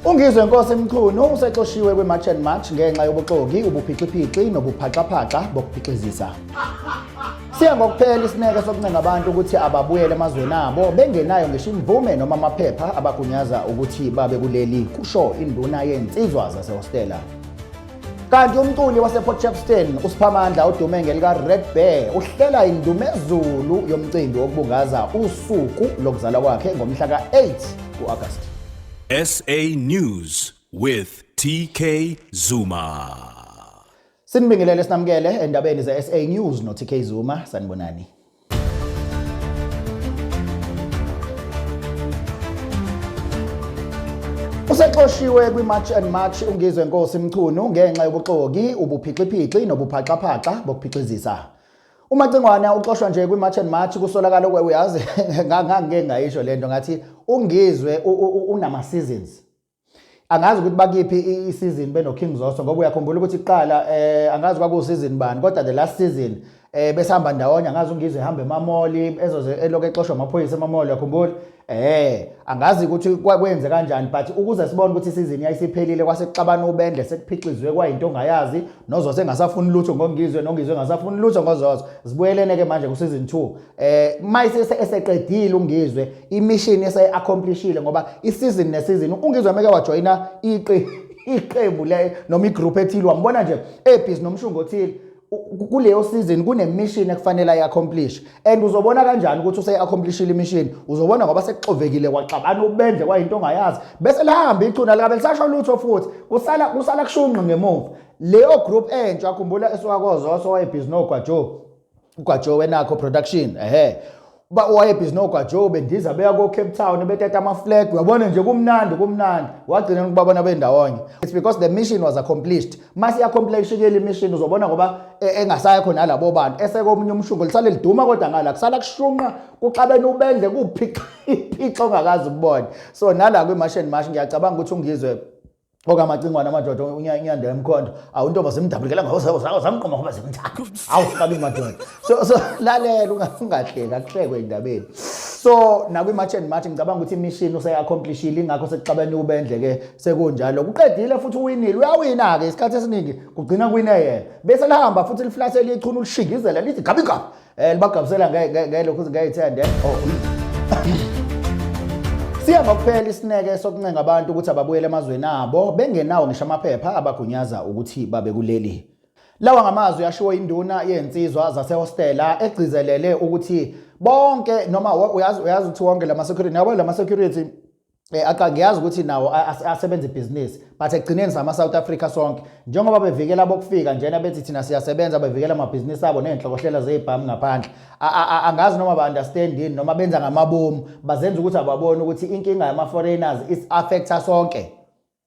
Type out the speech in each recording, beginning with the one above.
UNgizwe Nkosi Mchunu usexoshiwe kwiMarch and March ngenxa yobuxoki, ubuphixipixi nobuphaxaphaxa bokuphixizisa. Siya ngokuphela isineke sokuncenga abantu ukuthi ababuyele emazweni abo bengenayo ngisho imvume noma amaphepha abagunyaza ukuthi babe kuleli, kusho induna yensizwa zasehostela. kanti umculi waseport shepston usiphamandla odume ngelika-red bear uhlela indumezulu yomcimbi wokubungaza usuku lokuzalwa kwakhe ngomhla ka-8 ku-agasti sa news with tk zuma sinibingelele sinamukele endabeni ze-sa news no-tk zuma sanibonani Usexoshiwe kwiMarch and March uNgizwe Nkosi Mchunu ngenxa yobuxoki, ubuphixiphixi nobuphaxaphaxa bokuphixizisa. UMacingwana uxoshwa nje kwiMarch and March kusolakala ukwe uyazi ngangike ngayisho lento ngathi uNgizwe unama seasons. angazi ukuthi bakiphi isizini benoKing Zoso ngoba uyakhumbula ukuthi kuqala eh angazi kwakusizini bani kodwa the last season eh besihamba ndawonye angazi ungizwe ehamba emamoli ezoze eloke exoshwa amaphoyisa emamoli yakhumbula eh angazi ukuthi kwakwenze kanjani but ukuze sibone ukuthi isizini yayisiphelile kwase kuxabana ubendle sekuphixizwe kwayinto ongayazi nozozo engasafuni lutho ngongizwe nongizwe engasafuni lutho ngozozo zibuyelene ke manje kusizini 2 eh mayise eseqedile ungizwe imishini ese accomplishile ngoba isizini nesizini ungizwe meke wajoyina iqi iqembu le noma igroup ethile wambona nje ebhizi nomshungo othile kuleyo season kunemishini ekufanele ayaccomplish and uzobona kanjani ukuthi useyaccomplishile imishini uzobona ngoba sekuxovekile kwaxabana ubendle kwayinto ongayazi bese lihamba ichuna likabe lisasho lutho futhi kusala kusala kushunqi ngemuva leyo group entsha akhumbula esiwakozoso wayebhizi nogwajo uGwajo wenakho production ehe uba wayebhizi nogwajo bendiza beya ko-cape town betata amaflag uyabona nje kumnandi kumnandi wagcina ukubabona bendawonye it's because the mission was accomplished uma siyacompleishikela imission uzobona ngoba e, engasaya khona labo bantu esekomunye umshungo lisale liduma kodwa ngala kusala kushunqa kuxabene ubendle kuphixa iphixa ongakazi ukubona so nala kwi-mash and mash ngiyacabanga ukuthi ungizwe oke amacingwane amadoda unyanda emkhondo awu intomba zimdabulikela ngazamqoma ngoba zimthanda awu kabi madoda so so lalela ungahleki akuhlekwe endabeni so nakwi-march and march ngicabanga ukuthi imishini useyaccomplishile ingakho sekuxabene ubendle ke sekunjalo kuqedile futhi uwinile uyawina-ke isikhathi esiningi kugcina kuwine yena bese lihamba futhi liflathele ichunu lishingizela lithi gabi gabi Eh libagabusela ngeke lokho ngiyayithanda. Eh? Oh. Siya ngokuphela isineke sokuncenga abantu ukuthi ababuyele emazweni abo bengenawo ngisho amaphepha abagunyaza ukuthi babe kuleli. Lawa ngamazwi ashiwo induna yensizwa zasehostela egcizelele ukuthi bonke noma uyazi uyazi ukuthi wonke lama security yabo lama security Eh, aqa ngiyazi ukuthi nawo asebenza ibhizinisi but ekugcineni sama South Africa sonke njengoba bevikela bokufika njena bethi thina siyasebenza bevikela amabhizinisi abo nezinhlokohlela zezibhamu ngaphandle angazi noma ba understand yini noma benza ngamabomu bazenza ukuthi ababone ukuthi inkinga yama foreigners is affecta sonke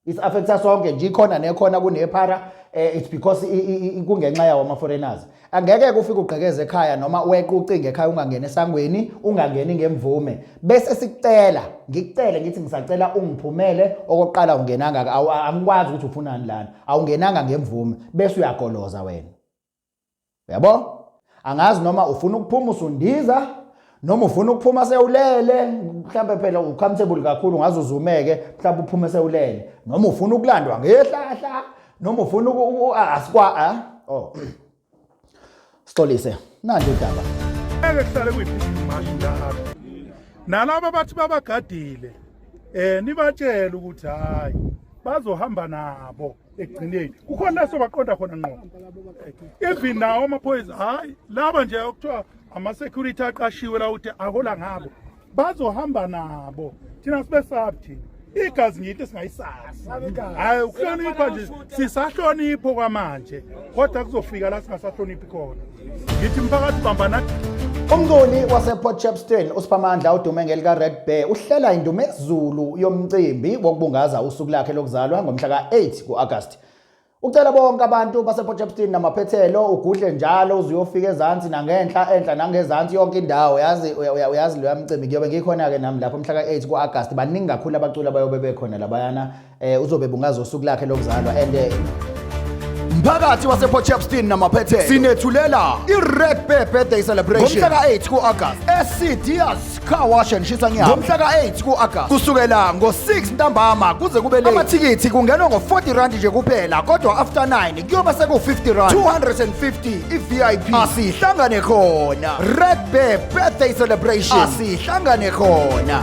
is affecta sonke nje ikhona nekhona kunephara eh, it's because kungenxa yawo ama foreigners angeke kufike ugqekeze ekhaya noma weqe ucinge ekhaya ungangena esangweni ungangeni ngemvume bese sikucela ngikucele ngithi ngisacela ungiphumele okokuqala ungenanga angikwazi ukuthi ufunani lana awungenanga ngemvume bese uyagoloza wena Uyabo? Angazi noma ufuna ukuphuma usundiza noma ufuna ukuphuma sewulele mhlawumbe phela ucomfortable kakhulu ngaze uzumeke mhlawumbe uphume sewulele noma ufuna ukulandwa ngehlahla noma ufuna asikwa ah, oh Sixolise nanje udaba ngeke kuhlale kuyiphi imashi la nalabo bathi babagadile eh nibatshela ukuthi hayi bazohamba nabo ekugcineni kukhona la sobaqonda khona ngqo even nawo amaphoyisa hhayi laba nje okuthiwa ama-security aqashiwe la ukuthi ahola ngabo bazohamba nabo thina sibe sabi thina igazi ngiyinto esingayisazi hhayi ukuhlonipha nje sisahlonipho kwamanje kodwa kuzofika la singasahloniphi khona ngithi mphakathi bamba nathi Umculi wasePort Shepstone uSiphamandla odume ngelika Red Bear uhlela indumezulu yomcimbi wokubungaza usuku lakhe lokuzalwa ngomhla ka-8 ku-Agasti. Ucela bonke abantu basePort Shepstone namaphethelo ugudle njalo uzuyofika ezansi nangenhla enhla nangezansi yonke indawo yazi uyazi loya mcimbi kuyobe ngikhona-ke nami lapho mhla ka-8 ku-Agasti baningi kakhulu abaculi abayobe bekhona labayana eh uzobe bungaza usuku lakhe lokuzalwa and eh, mphakathi waseport shepston namaphethelo sinethulela i-red bear birthday celebration ngomhla ka-8 ku-agast esidias car wash and shisa nyama ngomhla ka-8 ku-agast kusukela ngo-6 ntambama kuze kube late amathikithi kungenwa ngo-40 rand nje kuphela kodwa after 9 kuyoba seku-50 rand 250 i-vip asihlangane khona red bear birthday celebration asihlangane khona